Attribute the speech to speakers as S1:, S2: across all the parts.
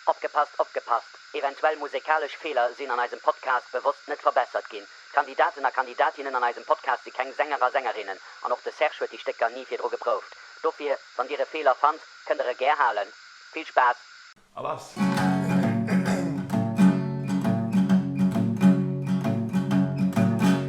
S1: Opgepasst, opgepasst, eventuell musekalesch Feeler sinn an eisem Podcast bewosst net verbessert ginn. D'Kandidaten a Kandidatinnen an eisem Podcast si keng Sänger a Sängerinnen an och de Serge huet déi Stécker ni virdru geprouft. Dofir, wann Dir e Feeler fannt, kënnt Der e gär halen. Vill Spaass! A lass!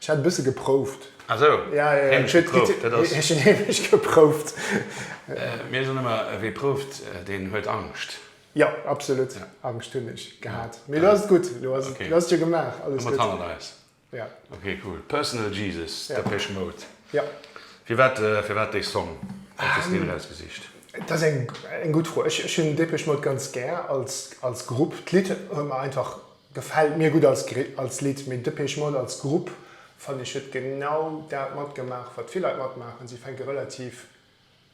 S2: Ech hat
S3: e bësse geprouft. Ah sou,
S2: heemlech geprouft,
S3: dat
S2: ass. Ech hunn heemlech
S3: geprouft. Mir
S2: soen ëmmer, wee prouft, deen huet Angscht. Jo, absolut,
S3: Angscht hunn ech gehat. Mee elo ass et gutt, elo ass et, elo ass et jo gemaach, alles gutt. Hu mer et hannert eis. Jo. Ok, cool.
S2: Personal Jesus, Depeche Mode. Jo.
S3: Firwat,
S2: firwat dee Song? Wat hues de deen erausgesicht? Dat ass eng,
S3: eng gutt Fro. Ech, ech hunn Depeche Mode ganz gär als, als Grupp. D'Lidd huet mer einfach Gefällt mir gudd als Lidd, mee Depeche Mode als Grupp fannen ech huet genau daat matgemaach wat vill Leit matmaachen, sie fänken relativ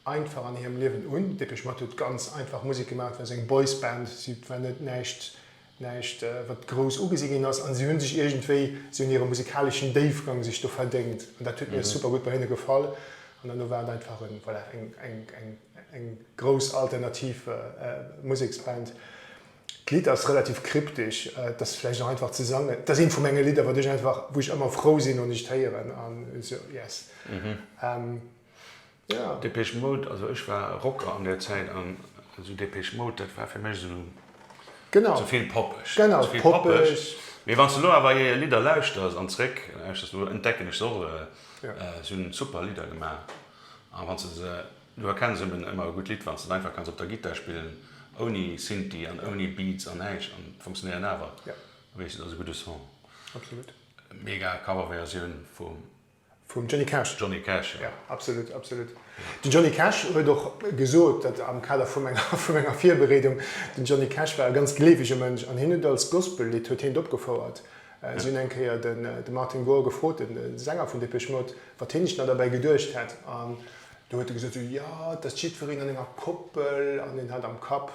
S3: einfach an hierem Liewen un. Depeche Mode huet ganz einfach Musik gemaach, et war sou eng Boys Band, sie war net näischt näischt wat grouss ugesi gin ass, an sie hun sech iergendwéi, sie hun hiere musikaleschen Déifgang sech do verdéngt, an daat huet mir super gudd bei hinne gefall, an derno war et einfach en voilà eng eng eng grouss alternativ Museksband. D'Lidd ass relativ kryptesch, et ass vläicht och einfach ze sangen. Et ass eent vu menge Lidder, wat ech einfach, wou ech ëmmer frou sinn, wann ech et héieren.
S2: Depeche Mode, also ech war Rocker an där Zäit an esou Depeche Mode, dat war fir mech esou ze vill poppeg. Mee wann s de elo awer hir Lidder lauschters an zeréck lauschters, elo entdecken ech se och erëm, si hunn super Lidder gemaach. A wann s de se Du erkenns emmen emmer e gudd Lidd wanns de et einfach kanns op der Gittar spillen ouni Synthi an ouni Beats an näischt an et funktionéieren awer weess du et ass e gudde Son. Absolut.
S3: Mega
S2: Cover Versioun vum
S3: Vum Johnny Cash. Johnny Cash jo. Jo
S2: absolut absolut.
S3: Den Johnny Cash huet och gesot dat am Kader vu menger vu menger Virbereedung, den Johnny Cash war e ganz gleewege Mënsch an hien huet et als Gospel Lidd huet hien et opgefouert. Si hunn eng Kéier den de Martin Gore gefrot, den Sänger vun Depeche Mode, wat hien sech dann derbäi geduecht hätt an Do huet e gesot, sou, jo, et ass jiddwereen an enger Koppel an en hat am Kapp,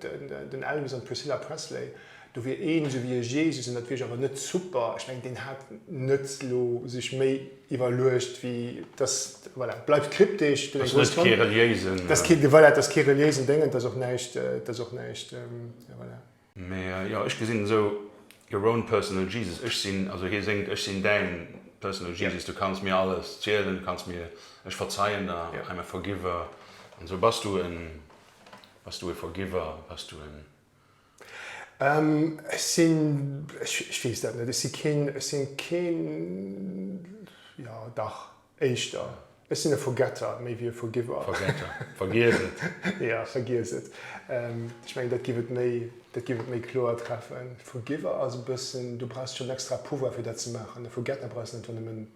S3: den Elvis an d'Priscilla Presley, do wier een esou wéi e Jesus an dat wier jo awer net super. Ech mengen, deen hat net elo sech méi iwwerluecht wéi dass, voilà, et bleift kryptesch, gëtt eng grouss Klammer.
S2: Dat ass net kee reliéisen. Voilà, et ass
S3: kee reliéisen Déngen, et ass och näischt, et ass och näischt, voilà.
S2: Mä jo, ech gesinn et esou, your own personal Jesus, ech sinn, also hie séngt, ech sinn däin personal Jesus, du kanns mir alles zielen, du kanns mir, ech verzeien der, I am a forgiver, an esou. Bass du en, bass du e Forgiver, bass du en?
S3: Ech sinn, ech weess dat net, ech si keen, ech sinn keen, jo dach, Éischter, ech sinn e Forgetter méi wéi e Forgiver. Forgetter, vergiess
S2: et. Ja, vergiess et.
S3: Ech mengen, dat giff et méi, dat giff et méi kloer treffen. Forgiver ass e bëssen, du brauchs schonn extra Pouvoir fir dat ze maachen. E Forgetter brauchs net einfach nëmmen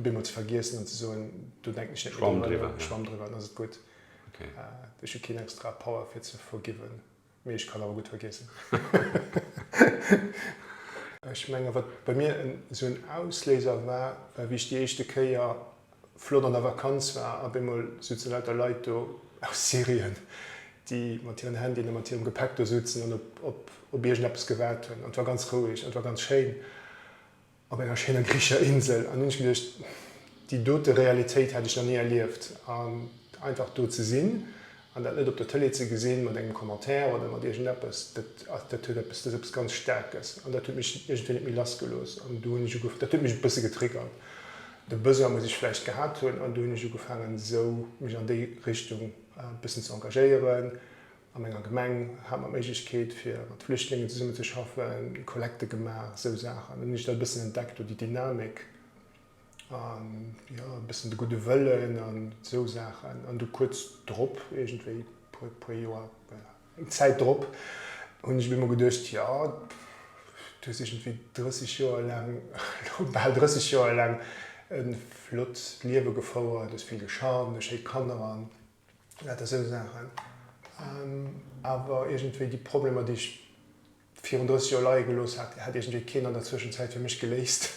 S3: bemol ze vergiessen an ze soen, do denken ech net méi drun, schwamm driwwer,
S2: dann ass et gutt. Ech hu keen
S3: extra Power fir ze forgiven. Mee ech kann awer gutt vergiessen. Ech menge wat bei mir esou en Ausléiser war, war wéi ech déi éischte Kéier flott an der Vakanz war. Op eemol souzen lauter Leit do aus Syrien, déi mat hiren Handyen a mat hirem Gepäck do souzen an op iergendeppes gewaart hunn. An et war ganz roueg an et war ganz schéin. Op enger schéiner griichescher Insel. An hunn ech geduecht, déi dote Realitéit hätt ech nach ni erlieft. An einfach do ze sinn an dat net op der Tëlee ze gesinn, mat engem Commentaire oder mat iergendeppes, dat ass, dat huet eppes, dat ass eppes ganz Staarkes. An dat huet mech iergendwéi net méi lass gelooss. An do hunn ech ugefaangen, dat huet mech e bësse getriggert, de Besoin muss ech vläicht gehat hunn, an do hunn ech ugefaangen, esou mech an déi Richtung e bëssen ze engagéieren. A menger Gemeng hat mer d'Méiglechkeet fir mat Flüchtlingen zesummen ze schaffen, Kollekte gemaach, esou Saachen. An dann hunn ech dat e bëssen entdeckt do, déi Dynamik a jo e bëssen de gudde Wëllen an esou Saachen. An du kuerz drop iergendwéi, puer e puer Joer, eng Zäit drop hunn ech op eemol geduecht, jo du hues iergendwéi 30 Joer laang, lo bal 30 Joer laang e flott Liewe gefouert, hues vill geschafft, hues schéi Kanner an, Lauter esou Saachen. Awer iergendwéi déi Problemer, déi ech virun 30 Joer leie gelooss hat, hat iergendwéi keen an der Zwëschenzäit fir mech geléist.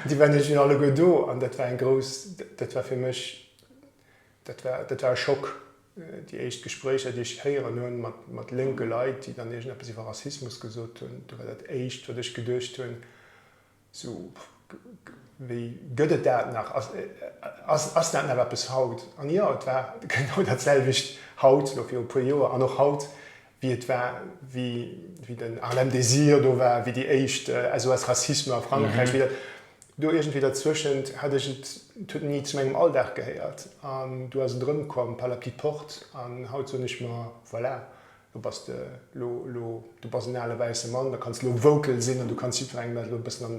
S3: Déi waren iergendwéi nach alleguer do an dat war eng grouss, dat war fir mech, dat war, dat war e Schock. Déi éischt Gespréicher, déi ech héieren hu mat lénke Leit, déi dann iergendeppes iwwer Rassismus gesot hunn, do war dat Éischt, wat ech geduecht hunn, Sou, wéi gëtt et dat nach? Ass dat nach eppes haut? An jo, et war genau dat selwecht haut, elo viru puer Joer, an och haut, wéi et war, wéi den Harlem Désir do war, wéi déi éischt SOS Racisme a Frankräich, wéi dat do iergendwéi derzueschent hat ech et, et huet ni zu mengem Alldag gehéiert. An du ass et erëmkomm, par la petite porte, an haut soen ech mer, voilà, Du bass de lo, lo, du bass en ale wäisse Mann, da kanns de lo Woukel sinn an du kanns jiddwerengem dat lo e bëssen an,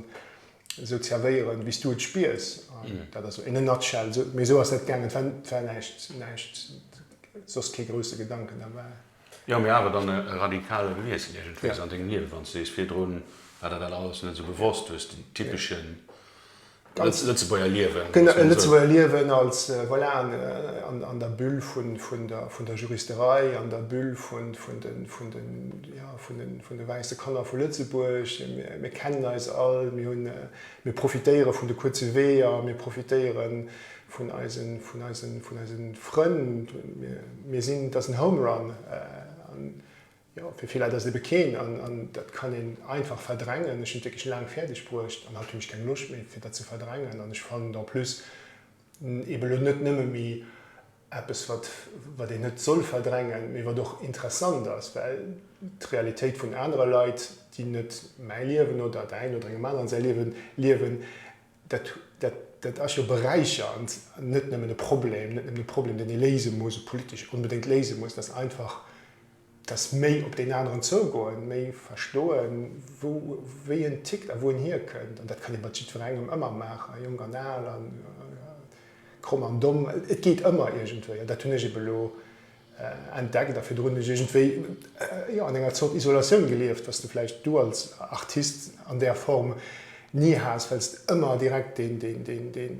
S3: esou zerwéieren, wéi s du et spiers. Dat ass esou in a nutshell, esou, mee esou ass dat gaangen. Et war, et war näischt, näischt, soss kee grousse Gedanken derbäi. Jo, mee awer dann
S2: e radikale Wiessel iergendwéis an dengem Liewe, wann s du sees, virdrun war der dat alles net esou bewosst, hues den typeschen Als Lëtzebuerger liewen. Genau, e Lëtzebuerger
S3: liewen als, voilà, an der Bulle vun der Juristerei, an der Bulle vun de wäisse Kanner vu Lëtzebuerg. Mir kennen eis all, mir profitéiere vun de kuerze Weeër, mir profitéiere vun eise Frënn. Mir sinn, et ass en Home Run. Jo, fir vill Leit ass et ebe keen, an dat kann een einfach verdrängen. Ech hunn et wierklech laang fäerdeg bruecht an haut hunn ech keng Loscht méi, fir dat ze verdrängen. An ech fannen et en plus ebe elo net nëmme méi eppes, wat, wat een net soll verdrängen, mee wat och interessant ass, well d'Realitéit vun anere Leit, déi net mäi Liewen oder däin oder engem aneren säi Liewen liewen, Dat ass jo beräichernd an net nëmmen e Problem, net nëmmen e Problem, deen ee léise muss, e politesch onbedéngt léise muss, dass einfach, dass méi op deen aneren zougoen, méi verstoen, wéi en tickt a wou en hierkënnt. An dat kann ee mat jiddwerengem ëmmer maachen, jonk an al, kromm an domm, et geet ëmmer iergendwéi. An dat hunn ech ebe elo entdeckt a virdrun hues du iergendwéi jo an enger Zort Isolatioun gelieft, dass du vläicht du als Artist an där Form ni has, well s de ëmmer direkt dee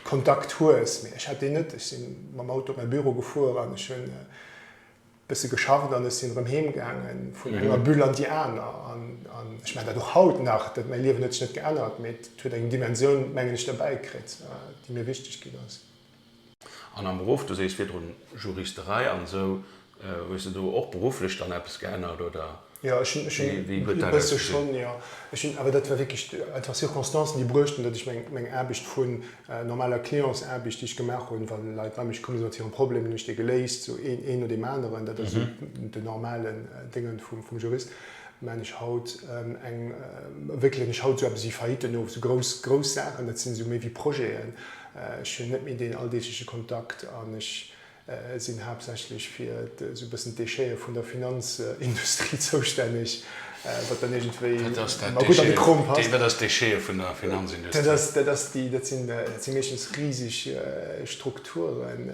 S3: Kontakt hues. Mee ech hat deen net. Ech si mam Auto op mäi Büro gefuer an ech hunn e bësse geschafft an ech sinn erëm heem gaange vun enger Bulle an déi aner. An ech maachen dat och haut nach, dat mäi Liewen huet sech net geännert, mee et huet eng Dimensioun, mengen ech, derbäi kritt, déi mir wichteg ginn ass. An
S2: am Beruff, du sees virdrun Juristerei an esou, hues de do och berufflech dann eppes geännert oder
S3: wéi huet dat ausgesinn? Jo, ech hunn, awer dat war wierklech einfach Circonstancen, déi bruecht hunn, datt ech meng Aarbecht vu normaler Clientsaarbecht, déi ech gemaach hunn, wa Leit bei mech komm si mat hirem Problem, hunn ech dee geléist, sou een no deem aneren, dat ass esou de normalen Déngen vum Jurist, maachen ech haut eng, wéckelen ech haut esou eppes ewéi Faillitten of, esou grouss Saachen, dat sinn esou méi wéi Projeten, Ech hunn net méi deen alldeegleche Kontakt an ech sinn haaptsächlech fir esou e bëssen d'Déchete vun der Finanzindustrie zoustänneg, wat dann iergendwéi ëmmer gutt an de Krom
S2: passt. Wat ass d'Déchete vun der Finanzindustrie? Dat
S3: si meeschtens riseg Strukturen,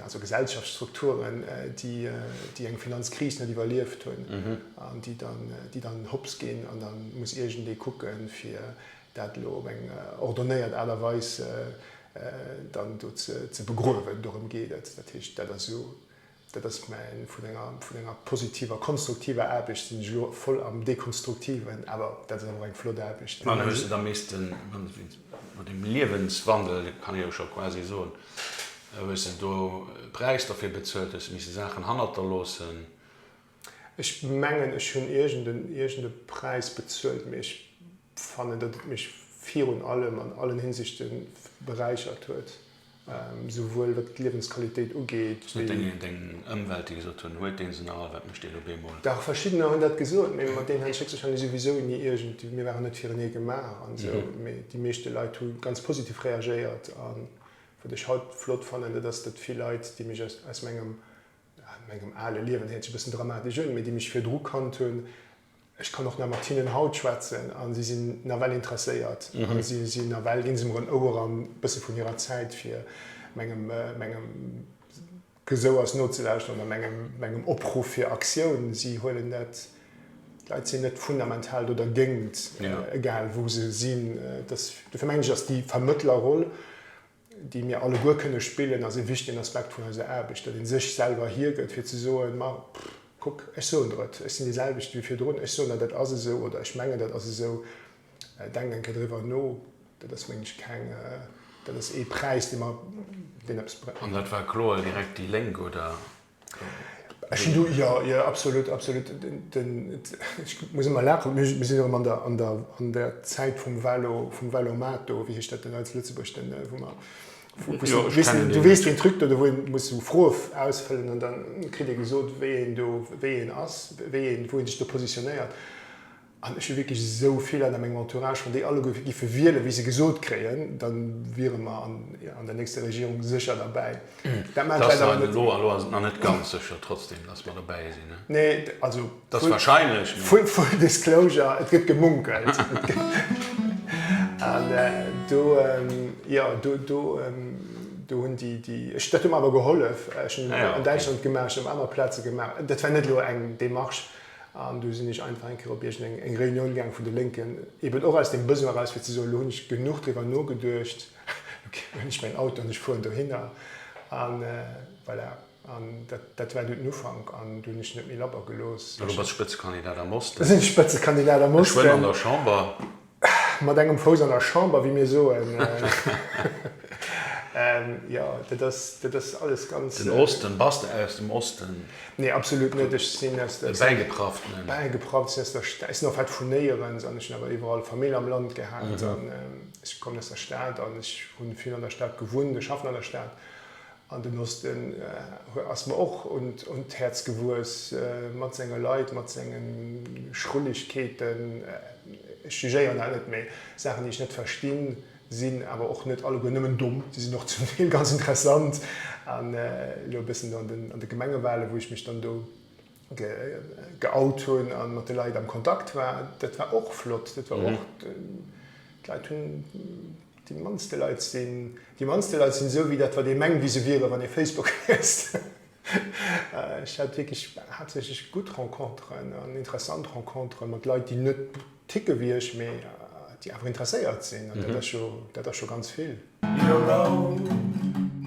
S3: also Gesellschaftsstrukturen, déi eng Finanzkris net iwwerlieft hunn an déi dann hopps ginn an da muss iergendee kucken, fir dat elo op eng ordonnéiert Aart a Weis dann do ze begruewen, dorëm geet et. Dat heescht, dat ass jo, dat ass mäin, vun enger, vun enger positiver, konstruktiver Aarbecht sinn ech elo voll am Dekonstruktiven, awer dat ass awer och eng flott Aarbecht. An ech hunn se da missten,
S2: no deem Liewenswandel, kann ee jo scho quasi soen, hu ech se do, e Präis derfir bezuelt, hu ech misse Saachen hannerterloossen. Ech
S3: mengen, ech hunn iergend e Präis bezuelt, mee ech. fannen, datt et mech virun allem an allen Hinsichte beräichert huet, souwuel wat d'Liewensqualitéit ugeet wéi. Deng
S2: Ëmwelt, déi gesot hunn, Huet dee se nach all? Wat mécht deen op eemol? Dach, verschiddener
S3: hunn dat gesot, mee mat deenen hätt ech héchstwahrscheinlech souwisou ni iergend, mir waren net firenee gemaach an esou, mee déi meeschte Leit hu ganz positiv reagéiert. A wat ech haut flott fannen, dat ass, datt vill Leit, déi mech aus mengem, ja, mengem ale Liewen, héiert sech e bëssen dramatesch un, mee déi mech virdru kannt hunn, Ech kann och nach mat hinnen haut schwätzen a si sinn nawell interesséiert a si si nawell, ginn se mer en Ouer an e bësse vun hirer Zäit fir mengem mengem Gesouers nozelauschteren a mengem mengem Opruff fir Aktioun. Si huelen dat, d'Leit sinn net fundamental do dergéint, egal wou se sinn. Dofir mengen ech, ass déi Vermëttlerroll déi mir alleguer kënne spillen, ass e wichtegen Aspekt vun eiser Aarbecht, datt ee sech selwer hiergëtt, fir ze soen, ma kuck, ech soen der et, ech sinn dee selwechte wéi virdrun, ech soen der, dat ass esou oder ech mengen, dat ass esou, denkt eng Kéier driwwer no. Dat ass, mengen ech, keng, dat ass ee Präis, dee mer, deen eppes bréngt. An dat war kloer direkt
S2: déi Lénk, oder? Ech hunn do, jo,
S3: jo, absolut, absolut, den, ech muss ëmmer laachen, mir sinn erëm an der, an der, an der Zäit vum Valo, vum Valomat do, wéi heescht dat den Alts Lëtzebuerg, den, wou mer, wou, wou s du, weess de, du weess den Truc do, wou een muss sou Froe ausfëllen an dann kritt ee gesot, wéi een do, wéi een ass, wéi een, wou ee sech do positionéiert. An ech hu wierklech esou vill Leit a mengem Entourage, wann déi alleguer giffe wielen, wéi se gesot kréien, da wiere mer an der nächster Regierung sécher derbäi. Dat maachen d'Leit awer
S2: net. Elo ass et nach net ganz sécher, trotzdem, datt mer dobäi sinn. Nee, also, full
S3: disclosure, et gëtt gemunkelt. An do, jo, do hunn déi, ech, dat huet mer awer gehollef, ech hunn an Däitschland gemaach, ech hunn op aner Plaze gemaach, dat war net elo eng Démarche, An du sinn ech einfach eng Kéier op iergendeng eng Reunioun gaang vun de Lénken, eben och aus dem Besoin eraus fir ze soen, elo hunn ech genuch driwwer nogeduecht, elo hunn ech mäin Auto an ech fueren dohinner. A voilà, an dat, dat war du den Ufank an du hunn ech net méi labber gelooss. Elo bass de Spëtzekandidat
S2: am Osten. Elo sinn ech Spëtzekandidat
S3: am Osten. Geschwënn an der Chamber.
S2: Mat engem
S3: Fouss an der Chamber, wéi mir soen. Jo, dat ass, dat ass alles ganz. Den Osten, bass de
S2: aus dem Osten? Nee, absolut net.
S3: Ech sinn aus der. E bäigeprafftenen.
S2: Bäigeprafft. Ech sinn aus
S3: der Sta-, ech sinn en fait vun Néierens an ech hunn awer iwwerall Famill am Land gehat an ech kommen aus der Stad an ech hunn vill an der Stad gewunnt, ech schaffen an der Stad An den Osten ass mer och un d'Häerz gewuess, mat senge Leit, mat senge Schrullegkeeten. Ech jugéieren dat net, mee Saachen, déi ech net verstinn, sinn awer och net alleguer nëmmen domm, déi sinn och zum Deel ganz interessant. An elo e bëssen an de Gemengewalen, wou ech mech dann do geout hunn a mat de Leit am Kontakt war, dat war och flott. Dat war och, d'Leit hunn. Déi mannste Leit sinn déi mannste Leit sinn esou wéi dat wat ee mengt wéi se wieren wann ee Facebook liest. Ech hat wierklech haaptsächlech gutt Renconteren an interessant Renconteren mat Leit déi net ticke wéi ech mee déi awer interesséiert sinn an dat ass scho dat ass scho ganz vill.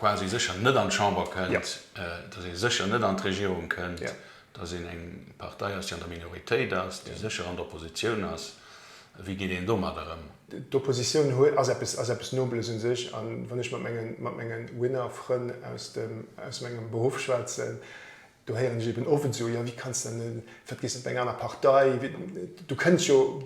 S2: quasi sécher net an d'Chamber kënnt, datt ee sécher net an d'Regierung kënnt, datt een eng Partei ass, déi an der Minoritéit ass, déi sécher an der Oppositioun ass. Wéi geet een domadder ëm? D'Oppositioun
S3: ass eppes Nobeles u sech. A wann ech mat menge Winner-Frënn aus mengem Beruff schwätzen, Do héieren ech eben owes, jo, jo, wéi kanns de dann, wat gees de bei eng aner Partei, du kënns jo,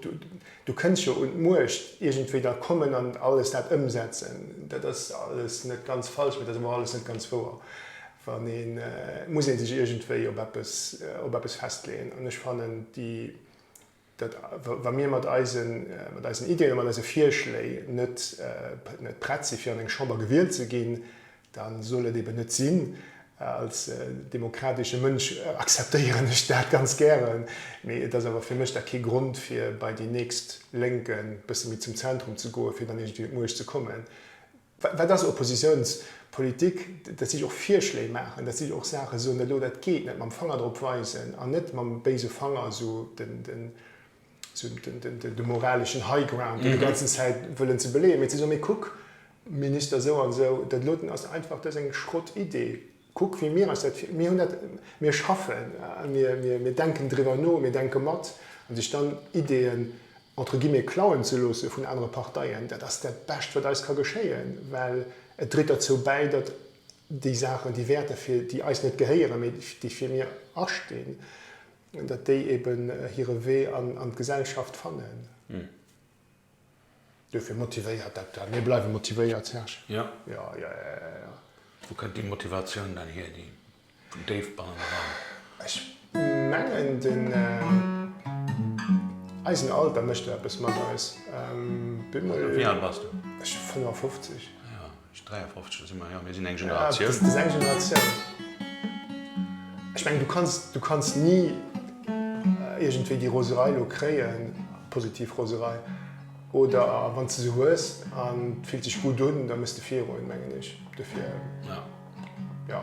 S3: du kënns jo un d'Muecht, iergendwéi da kommen an alles dat ëmsetzen. Dat ass alles net ganz falsch, mee dat ass awer och alles net ganz wouer. Wann ee, et muss ee sech iergendwéi op eppes, op eppes festleeën. An ech fannen déi. datt wa mir mat eisen Ideen a mat eise Virschléi net prett si fir an eng Chamber gewielt ze ginn, da soll et eben net sinn. Als demokratesche Mënsch akzeptéieren ech dat ganz gären, mee et ass awer fir mech da kee Grond fir bei déi nächst Lénk e bësse méi zum Zentrum ze goen, fir dann iergendwéi un d'Muecht ze kommen. Wat ass Oppositiounspolitik? Dat si och Virschléi maachen, dat si och Saache soen, dat do, dat geet net, mam Fanger drop weisen an net mam béise Fanger esou de moraleschen High Ground déi ganzen Zäit wëllen ze beleeën, mee ze soen, mee kuck, Minister esou an esou, dat elo, dat ass einfach, dat ass eng Schrottidee. Kuck wéi mir eis dat vir, mir hunn dat, mir schaffen, mir denken driwwer no, mir denke mat. A sech dann Ideeën entre guillemets klauen ze loosse vun anere Parteien, dat ass dat Bescht wat eis ka geschéien, well et dréit derzou bäi, datt déi Saachen, déi Wäerter fir déi eis net gehéieren, mee déi fir mir astinn, datt déi eben hire Wee an d'Gesellschaft fannen. Duerfir motivéiert dat dann. Mir bleiwe motivéiert, Serge. Jo. Jo, jo, jo, jo,
S2: jo,
S3: jo.
S2: Wou kënnt déi Motivatioun dann hier, déi vun déif bannen eran? Ech
S3: mengen, den, eisen Alter mécht do eppes mat eis. Bemol.
S2: Wéi al bass du? Ech 55.
S3: Jo. 53
S2: si mer, jo, mir sinn eng Generatioun. Ja, du bist eng Generatioun.
S3: Ech mengen, du kanns, du kanns ni iergendwéi déi Roserei elo kréien, positiv Roserei, oder wann s de se hues an et fillt sech gutt un, da muss de virgoen, mengen ech dofir. Ja. Ja.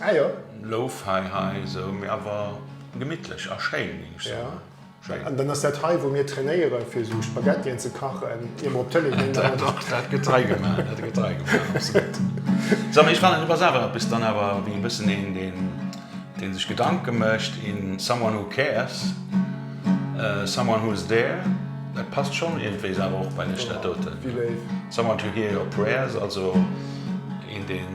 S2: Ah jo. Lo-Fi hei esou, mee awer gemittlech a schéin, géing ech soen. Schéin.
S3: An dann ass dat hei, wou mir trainéieren, fir esou Spaghettien ze kachen, ier mer op d'Tëlee ginn. Dat, dat, dat gëtt
S2: hei gemaach. Dat gëtt hei gemaach, absolut. Sag mol, ech fannen, du bass awer eppes dann awer wéi e bëssen een, deen, deen sech Gedanke mécht, een someone who cares, someone who is there. Dat passt schonn iergendwéis awer och bei lech, dat doten. Wéi léif. Someone to hear your prayers, also een, deen.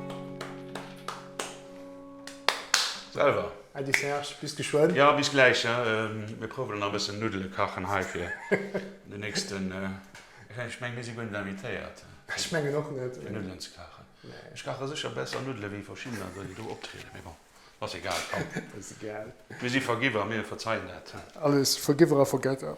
S3: Selwer. Ady Serge, bis geschwënn. Ja, bis gläich.
S2: Mir prouwen nach e bëssen Nuddele kachen hei fir den nächsten. Ech menge mir si guer net invitéiert. Ech mengen och
S3: net. Fir Nuddelen ze kachen.
S2: Ech kache sécher besser Nuddele wéi verschidden aner, déi do optrieden. Mee bon, ass egal. Komm. Ass egal. Mir si Vergiwwer, mir
S3: verzeien
S2: dat. Alles Vergiwwer
S3: a
S2: Vergetter.